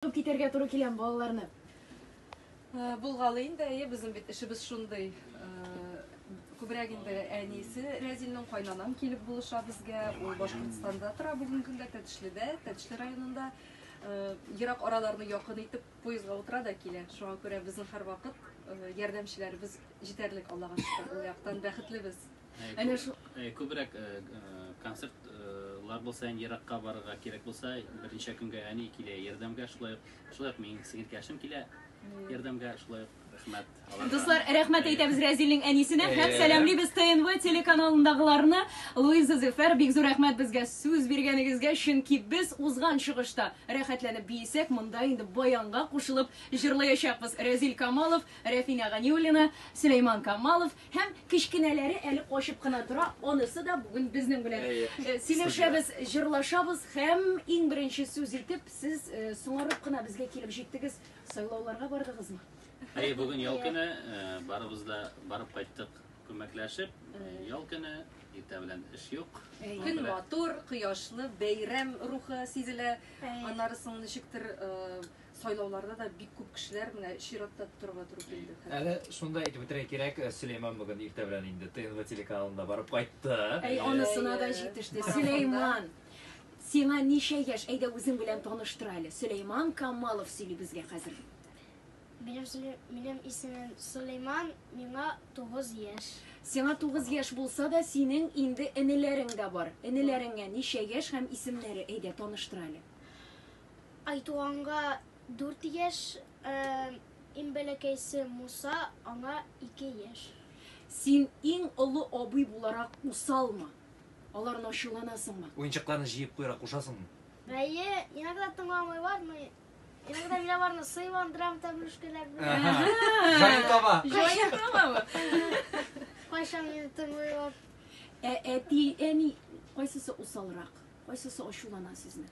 Куып китәргә туры киләме балаларны? Булгалый инде, әйе, безнең бит эшебез шундый. Күбрәк инде әнисе Рәзилнең кайнанам килеп булыша безгә. Ул Башкортстанда тора бүгенге көндә, Тәтешледә, Тәтешле районында. Ерак араларны якын итеп поездга утыра да килә. Шуңа күрә безнең һәрвакыт ярдәмчеләребез җитәрлек, Аллага шөкер, ул яктан бәхетлебез. Әнә шул э, күбрәк э, э, концертлар булса, һәм еракка барырга кирәк булса, берничә көнгә әни килә ярдәмгә, шулай ук, шулай ук минем сеңелкәшем килә ярдәмгә, шулай ук рәхмәт. Дуслар, рәхмәт әйтәбез Рәзилнең әнисенә һәм сәламлибез ТНВ телеканалындагыларны. Луиза Зефер, бик зур рәхмәт безгә сүз биргәнегезгә, чөнки без узган чыгышта рәхәтләнеп биесәк, монда инде баянга кушылып җырлаячакбыз. Рәзил Камалов, Рәфинә Ганиуллина, Сөләйман Камалов, Һәм кечкенәләре әле качып кына тора, анысы да бүген безнең белән. Сөйләшәбез, җырлашабыз һәм иң беренче сүз итеп сез соңарып кына безгә килеп җиттегез. Сайлауларга бардыгызмы? Әйе, бүген ял көне, барыбыз да барып кайттык күмәкләшеп. Ял көне, иртә белән эш юк. Көн матур, кояшлы, бәйрәм рухы сизелә. Аннары соң ничектер Сайлауларда да бик күп кешеләр менә чиратта торырга туры килде. Әле шунда әйтеп үтәргә кирәк, Сөләйман бүген иртә белән инде ТНВ телеканалында барып кайтты. Әй, анысына да җитеште. Сөләйман, сиңа ничә яшь? Әйдә, үзең белән таныштыр әле. Сөләйман Камалов сөйли безгә хәзер. Минем исемем Сөләйман, миңа тугыз яшь. Сиңа тугыз яшь булса да, синең инде энеләрең дә бар. Энеләреңә ничә яшь һәм исемнәре? Әйдә, таныштыр әле. Айтуганга дүрт яшь, иң бәләкәйсе Муса, аңа ике яшь. Син иң олы абый буларак усалмы? Аларны ачуланасыңмы? Уенчыкларны җыеп куярга кушасыңмы? Әйе, иногда тыңламый бармый. Иногда мин аларны сыйландырам тәмле шкәләр белән. Җаен таба. Җаен табамы? Кайчан мине тыңлыйлар? Ә әти, әни кайсысы усалрак? Кайсысы ачулана сезне?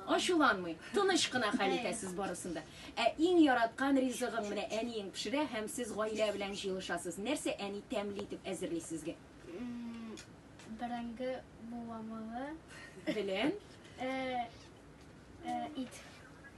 Ачуланмый. Тыныч кына хәл итәсез барысын да. Ә иң яраткан ризыгың менә әниең пешерә һәм сез гаилә белән җыелышасыз. Нәрсә әни тәмле итеп әзерли сезгә? Бәрәңге буламыгы. Белән? Ит.